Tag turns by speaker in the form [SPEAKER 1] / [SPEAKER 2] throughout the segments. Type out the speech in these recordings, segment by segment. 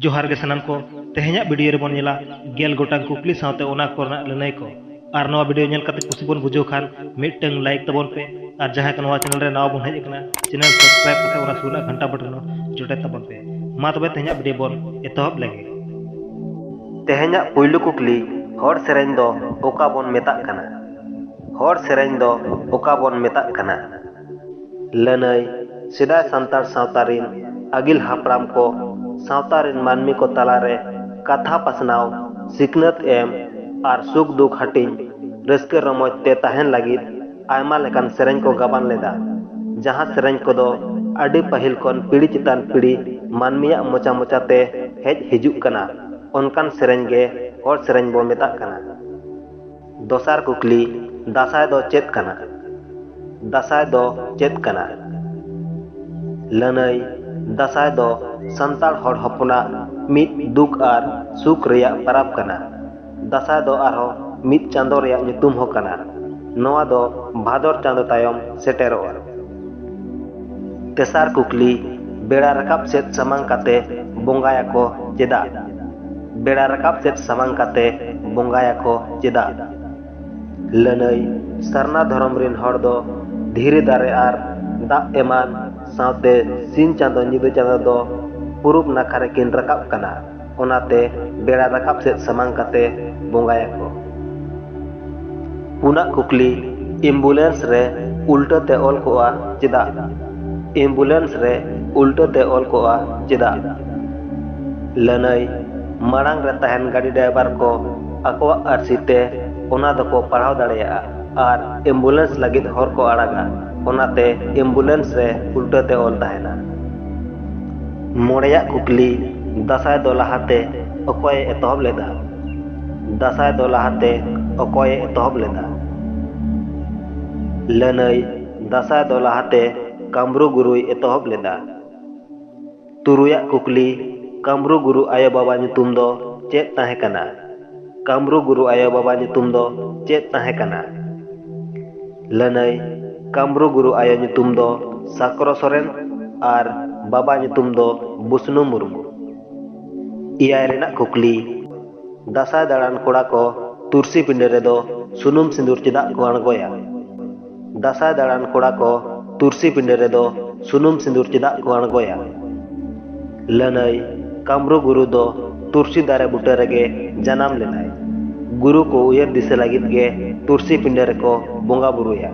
[SPEAKER 1] ᱡᱚᱦᱟᱨ ᱜᱮ ᱥᱟᱱᱟᱢ ᱠᱚ ᱛᱮᱦᱮᱧᱟᱜ ᱵᱷᱤᱰᱤᱭᱳ ᱨᱮᱵᱚᱱ ᱧᱮᱞᱟ ᱜᱮᱞ ᱜᱚᱴᱟᱝ ᱠᱩᱠᱞᱤ ᱥᱟᱶᱛᱮ ᱚᱱᱟ ᱠᱚᱨᱮᱱᱟᱜ ᱞᱟᱹᱱᱟᱹᱭ ᱠᱚ ᱟᱨ ᱱᱚᱣᱟ ᱵᱷᱤᱰᱤᱭᱳ ᱧᱮᱞ ᱠᱟᱛᱮ ᱠᱩᱥᱤ ᱵᱚᱱ ᱵᱩᱡᱷᱟᱹᱣ ᱠᱷᱟᱱ ᱢᱤᱫᱴᱟᱝ ᱞᱟᱭᱤᱠ ᱛᱟᱵᱚᱱ ᱯᱮ ᱟᱨ ᱡᱟᱦᱟᱸᱭ ᱠᱚ ᱱᱚᱣᱟ ᱪᱮᱱᱮᱞ ᱨᱮ ᱱᱟᱣᱟ ᱵᱚᱱ ᱦᱮᱡ ᱟᱠᱟᱱᱟ ᱪᱮᱱᱮᱞ ᱥᱟᱵᱥᱠᱨᱟᱭᱤᱵ ᱠᱟᱛᱮ ᱚᱱᱟ ᱥᱩᱨ ᱨᱮᱱᱟᱜ ᱜᱷᱟᱱᱴᱟ ᱵᱚᱴᱚᱱ ᱡᱚᱴᱮᱫ ᱛᱟᱵᱚᱱ ᱯᱮ ᱢᱟ ᱛᱚᱵᱮ ᱛᱮᱦᱮᱧᱟᱜ ᱵᱷᱤᱰᱤᱭᱳ ᱵᱚᱱ ᱮᱛᱚᱦᱚᱵ ᱞᱮᱜᱮ ᱛᱮᱦᱮᱧᱟᱜ ᱯᱩᱭᱞᱩ ᱠᱩᱠᱞᱤ ᱦᱚᱲ ᱥᱮᱨᱮᱧ ᱫᱚ ᱚᱠᱟ ᱵᱚᱱ ᱢᱮᱛᱟᱜ ᱠᱟᱱᱟ ᱦᱚᱲ ᱥᱮᱨᱮᱧ ᱫᱚ ᱚᱠᱟ ᱵᱚᱱ ᱢᱮᱛᱟᱜ ᱠᱟᱱᱟ ᱞᱟᱹᱱᱟᱹᱭ ᱥᱮᱫᱟᱭ ᱥᱟᱱᱛᱟᱲ ᱥᱟᱶᱛᱟ ᱨᱤᱱ ᱟᱹᱜᱤᱞ ᱦᱟᱯᱲᱟᱢ ᱠᱚ ᱥᱟᱶᱛᱟ ᱨᱤᱱ ᱢᱟᱹᱱᱢᱤ ᱠᱚ ᱛᱟᱞᱟ ᱨᱮ ᱠᱟᱛᱷᱟ ᱯᱟᱥᱱᱟᱣ, ᱥᱤᱠᱷᱱᱟᱹᱛ ᱮᱢ ᱟᱨ ᱥᱩᱠ ᱫᱩᱠ ᱦᱟᱹᱴᱤᱧ, ᱨᱟᱹᱥᱠᱟᱹ ᱨᱚᱢᱚᱡᱽ ᱛᱮ ᱛᱟᱦᱮᱸᱱ ᱞᱟᱹᱜᱤᱫ ᱟᱭᱢᱟ ᱞᱮᱠᱟᱱ ᱥᱮᱨᱮᱧ ᱠᱚ ᱜᱟᱵᱟᱱ ᱞᱮᱫᱼᱟ᱾ ᱡᱟᱦᱟᱸ ᱥᱮᱨᱮᱧ ᱠᱚᱫᱚ ᱟᱹᱰᱤ ᱯᱟᱹᱦᱤᱞ ᱠᱷᱚᱱ ᱯᱤᱲᱦᱤ ᱪᱮᱛᱟᱱ ᱯᱤᱲᱦᱤ ᱢᱟᱹᱱᱢᱤᱭᱟᱜ ᱢᱚᱪᱟ ᱢᱚᱪᱟ ᱛᱮ ᱦᱮᱡ ᱦᱤᱡᱩᱜ ᱠᱟᱱᱟ, ᱚᱱᱠᱟᱱ ᱥᱮᱨᱮᱧ ᱜᱮ ᱦᱚᱲ ᱥᱮᱨᱮᱧ ᱵᱚ ᱢᱮᱛᱟᱜ ᱠᱟᱱᱟ᱾ ᱫᱚᱥᱟᱨ ᱠᱩᱠᱞᱤ ᱫᱟᱥᱟᱭ ᱫᱚ ᱪᱮᱫ ᱠᱟᱱᱟ ᱫᱟᱥᱟᱭ ᱫᱚ ᱪᱮᱫ ᱠᱟᱱᱟ ᱞᱟᱹᱱᱟᱹᱭ ᱫᱟᱥᱟᱭ ᱫᱚ ᱥᱟᱱᱛᱟᱲ ᱦᱚᱲ ᱦᱚᱯᱚᱱᱟᱜ ᱢᱤᱫ ᱫᱩᱠ ᱟᱨ ᱥᱩᱠ ᱨᱮᱭᱟᱜ ᱯᱟᱨᱟᱵᱽ ᱠᱟᱱᱟ ᱫᱟᱥᱟᱭ ᱫᱚ ᱟᱨᱦᱚᱸ ᱢᱤᱫ ᱪᱟᱸᱫᱚ ᱨᱮᱭᱟᱜ ᱧᱩᱛᱩᱢ ᱦᱚᱸ ᱠᱟᱱᱟ ᱱᱚᱣᱟ ᱫᱚ ᱵᱷᱟᱫᱚᱨ ᱪᱟᱸᱫᱚ ᱛᱟᱭᱚᱢ ᱥᱮᱴᱮᱨᱚᱜᱼᱟ ᱛᱮᱥᱟᱨ ᱠᱩᱠᱞᱤ ᱵᱮᱲᱟ ᱨᱟᱠᱟᱵ ᱥᱮᱫ ᱥᱟᱢᱟᱝ ᱠᱟᱛᱮ ᱵᱚᱸᱜᱟᱭᱟᱠᱚ ᱪᱮᱫᱟᱜ ᱵᱮᱲᱟ ᱨᱟᱠᱟᱵ ᱥᱮᱫ ᱥᱟᱢᱟᱝ ᱠᱟᱛᱮ ᱵᱚᱸᱜᱟᱭᱟᱠᱚ ᱪᱮᱫᱟᱜ ᱞᱟᱹᱱᱟᱹᱭ ᱥᱟᱨᱱᱟ ᱫᱷᱚᱨᱚᱢ ᱨᱤᱱ ᱦᱚᱲ ᱫᱚ ᱫᱷᱤᱨᱤ ᱫᱟᱨᱮ ᱟᱨ ᱫᱟᱜ ᱮᱢᱟᱱ ᱥᱟᱶᱛᱮ ᱥᱤᱧ ᱪᱟᱸᱫᱚ ᱧᱤᱫᱟᱹ ᱪᱟᱸᱫᱚ ᱫᱚ ᱯᱩᱨᱩᱵ ᱱᱟᱠᱷᱟ ᱨᱮᱠᱤᱱ ᱨᱟᱠᱟᱵ ᱠᱟᱱᱟ ᱚᱱᱟᱛᱮ ᱵᱮᱲᱟ ᱨᱟᱠᱟᱵ ᱥᱮᱫ ᱥᱟᱢᱟᱝ ᱠᱟᱛᱮ ᱵᱚᱸᱜᱟᱭᱟᱠᱚ ᱯᱩᱱᱟᱜ ᱠᱩᱠᱞᱤ ᱮᱢᱵᱩᱞᱮᱱᱥ ᱨᱮ ᱩᱞᱴᱟᱹ ᱛᱮ ᱚᱞ ᱠᱚᱜᱼᱟ ᱪᱮᱫᱟᱜ ᱮᱢᱵᱩᱞᱮᱱᱥ ᱨᱮ ᱩᱞᱴᱟᱹ ᱛᱮ ᱚᱞ ᱠᱚᱜᱼᱟ ᱪᱮᱫᱟᱜ ᱞᱟᱹᱱᱟᱹᱭ ᱢᱟᱲᱟᱝ ᱨᱮ ᱛᱟᱦᱮᱱ ᱜᱟᱹᱰᱤ ᱰᱨᱟᱭᱵᱷᱟᱨ ᱠᱚ ᱟᱠᱚᱣᱟᱜ ᱟᱹᱨᱥᱤ ᱛᱮ ᱚᱱᱟ ᱫᱚᱠᱚ ᱯᱟᱲᱦᱟᱣ ᱫᱟᱲᱮᱭᱟᱜᱼᱟ ᱟᱨ ᱮᱢᱵᱩᱞᱮᱱᱥ ᱞᱟᱹᱜᱤᱫ ᱦᱚᱨ ᱠᱚ ᱟᱲᱟᱜᱟ ᱚᱱᱟᱛᱮ ᱮᱢᱵᱩᱞᱮᱱᱥ ᱨᱮ ᱩᱞᱴᱟᱹ ᱛᱮ ᱚᱞ ᱛᱟᱦᱮᱱᱟ ᱢᱚᱬᱮᱭᱟᱜ ᱠᱩᱠᱞᱤ ᱫᱟᱸᱥᱟᱭ ᱫᱚ ᱞᱟᱦᱟᱛᱮ ᱚᱠᱚᱭᱮ ᱮᱛᱚᱦᱚᱵ ᱞᱮᱫᱟ ᱫᱟᱸᱥᱟᱭ ᱫᱚ ᱞᱟᱦᱟᱛᱮ ᱚᱠᱚᱭᱮ ᱮᱛᱚᱦᱚᱵ ᱞᱮᱫᱟ ᱞᱟᱹᱱᱟᱹᱭ ᱫᱟᱸᱥᱟᱭ ᱫᱚ ᱞᱟᱦᱟᱛᱮ ᱠᱟᱢᱨᱩ ᱜᱩᱨᱩᱭ ᱮᱛᱚᱦᱚᱵ ᱞᱮᱫᱟ ᱛᱩᱨᱩᱭᱟᱜ ᱠᱩᱠᱞᱤ ᱠᱟᱢᱨᱩ ᱜᱩᱨᱩ ᱟᱭᱳ ᱵᱟᱵᱟ ᱧᱩᱛᱩᱢ ᱫᱚ ᱪᱮᱫ ᱛᱟᱦᱮᱸ ᱠᱟᱱᱟ ᱠᱟᱢᱨᱩ ᱜᱩᱨᱩ ᱟᱭᱳᱼᱵᱟᱵᱟ ᱧᱩᱛᱩᱢ ᱫᱚ ᱪᱮᱫ ᱛᱟᱦᱮᱸ ᱠᱟᱱᱟ ᱞᱟᱹᱱᱟᱹᱭ ᱠᱟᱢᱨᱩ ᱜᱩᱨᱩ ᱟᱭᱳ ᱧᱩᱛᱩᱢ ᱫᱚ ᱥᱟᱠᱨᱚ ᱥᱚᱨᱮᱱ ᱟᱨ ᱵᱟᱵᱟ ᱧᱩᱛᱩᱢ ᱫᱚ ᱵᱩᱥᱱᱩ ᱢᱩᱨᱢᱩ ᱮᱭᱟᱭ ᱨᱮᱱᱟᱜ ᱠᱩᱠᱞᱤ ᱫᱟᱸᱥᱟᱭ ᱫᱟᱬᱟᱱ ᱠᱚᱲᱟ ᱠᱚ ᱛᱩᱨᱥᱤ ᱯᱤᱸᱰᱟᱹ ᱨᱮᱫᱚ ᱥᱩᱱᱩᱢ ᱥᱤᱸᱫᱩᱨ ᱪᱮᱫᱟᱜ ᱠᱚ ᱟᱬᱜᱚᱭᱟ ᱫᱟᱥᱟᱭ ᱫᱟᱲᱟᱱ ᱠᱚᱲᱟ ᱠᱚ ᱛᱩᱨᱥᱤ ᱯᱤᱸᱰᱟᱹ ᱨᱮᱫᱚ ᱥᱩᱱᱩᱢ ᱥᱤᱸᱫᱩᱨ ᱪᱮᱫᱟᱜ ᱠᱚ ᱟᱬᱜᱚᱭᱟ? ᱞᱟᱹᱱᱟᱹᱭ, ᱠᱟᱢᱨᱩ ᱜᱩᱨᱩ ᱫᱚ ᱛᱩᱨᱥᱤ ᱫᱟᱨᱮ ᱵᱩᱴᱟᱹ ᱨᱮᱜᱮ ᱡᱟᱱᱟᱢ ᱞᱮᱱᱟᱭ᱾ ᱜᱩᱨᱩ ᱠᱚ ᱩᱭᱦᱟᱹᱨ ᱫᱤᱥᱟᱹ ᱞᱟᱹᱜᱤᱫ ᱜᱮ ᱛᱩᱨᱥᱤ ᱯᱤᱸᱰᱟᱹ ᱨᱮᱠᱚ ᱵᱚᱸᱜᱟ ᱵᱩᱨᱩᱭᱟ᱾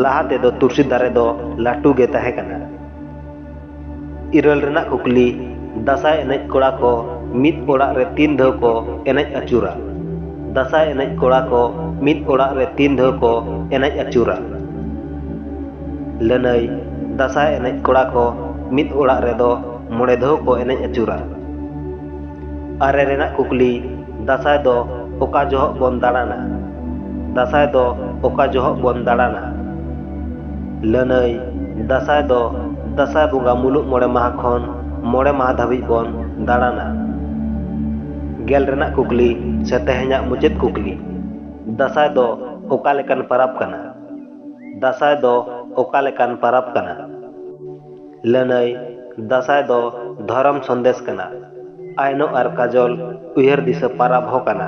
[SPEAKER 1] ᱞᱟᱦᱟ ᱛᱮᱫᱚ ᱛᱩᱨᱥᱤ ᱫᱟᱨᱮ ᱫᱚ ᱞᱟᱹᱴᱩ ᱜᱮ ᱛᱟᱦᱮᱸ ᱠᱟᱱᱟ᱾ ᱤᱨᱟᱹᱞ ᱨᱮᱱᱟᱜ ᱠᱩᱠᱞᱤ ᱫᱟᱸᱥᱟᱭ ᱮᱱᱮᱡ ᱠᱚᱲᱟ ᱠᱚ ᱢᱤᱫ ᱚᱲᱟᱜ ᱨᱮ ᱛᱤᱱ ᱫᱷᱟᱹᱣ ᱠᱚ ᱮᱱᱮᱡ ᱟᱹᱪᱩᱨᱟ ᱫᱟᱸᱥᱟᱭ ᱮᱱᱮᱡ ᱠᱚᱲᱟ ᱠᱚ ᱢᱤᱫ ᱚᱲᱟᱜ ᱨᱮ ᱛᱤᱱ ᱫᱷᱟᱹᱣ ᱠᱚ ᱮᱱᱮᱡ ᱟᱹᱪᱩᱨᱟ ᱞᱟᱹᱱᱟᱹᱭ ᱫᱟᱸᱥᱟᱭ ᱮᱱᱮᱡ ᱠᱚᱲᱟ ᱠᱚ ᱢᱤᱫ ᱚᱲᱟᱜ ᱨᱮᱫᱚ ᱢᱚᱬᱮ ᱫᱷᱟᱹᱣ ᱠᱚ ᱮᱱᱮᱡ ᱟᱹᱪᱩᱨᱟ ᱟᱨᱮ ᱨᱮᱱᱟᱜ ᱠᱩᱠᱞᱤ ᱫᱟᱥᱟᱭ ᱫᱚ ᱚᱠᱟ ᱡᱚᱦᱚᱜ ᱵᱚᱱ ᱫᱟᱬᱟᱱᱟ ᱫᱟᱥᱟᱭ ᱫᱚ ᱚᱠᱟ ᱡᱚᱦᱚᱜ ᱵᱚᱱ ᱫᱟᱬᱟᱱᱟ ᱞᱟᱹᱱᱟᱹᱭ ᱫᱟᱥᱟᱭ ᱫᱚ ᱫᱟᱥᱟᱭ ᱵᱚᱸᱜᱟ ᱢᱩᱞᱩᱜ ᱢᱚᱬᱮ ᱢᱟᱦᱟ ᱠᱷᱚᱱ ᱢᱚᱬᱮ ᱢᱟᱦᱟ ᱫᱷᱟᱹᱵᱤᱡ ᱵᱚᱱ ᱫᱟᱬᱟᱱᱟ ᱜᱮᱞ ᱨᱮᱱᱟᱜ ᱠᱩᱠᱞᱤ ᱥᱮ ᱛᱮᱦᱮᱧᱟᱜ ᱢᱩᱪᱟᱹᱫ ᱠᱩᱠᱞᱤ ᱫᱟᱥᱟᱭ ᱫᱚ ᱚᱠᱟ ᱞᱮᱠᱟᱱ ᱯᱟᱨᱟᱵᱽ ᱠᱟᱱᱟ ᱫᱟᱥᱟᱭ ᱫᱚ ᱚᱠᱟ ᱞᱮᱠᱟᱱ ᱯᱟᱨᱟᱵᱽ ᱠᱟᱱᱟ ᱞᱟᱹᱱᱟᱹᱭ, ᱫᱟᱥᱟᱸᱭ ᱫᱚ ᱫᱷᱚᱨᱚᱢ ᱥᱚᱱᱫᱮᱥ ᱠᱟᱱᱟ᱾ ᱟᱭᱱᱚ ᱟᱨ ᱠᱟᱡᱚᱞ ᱩᱭᱦᱟᱹᱨ ᱫᱤᱥᱟᱹ ᱯᱟᱨᱟᱵᱽ ᱦᱚᱸ ᱠᱟᱱᱟ᱾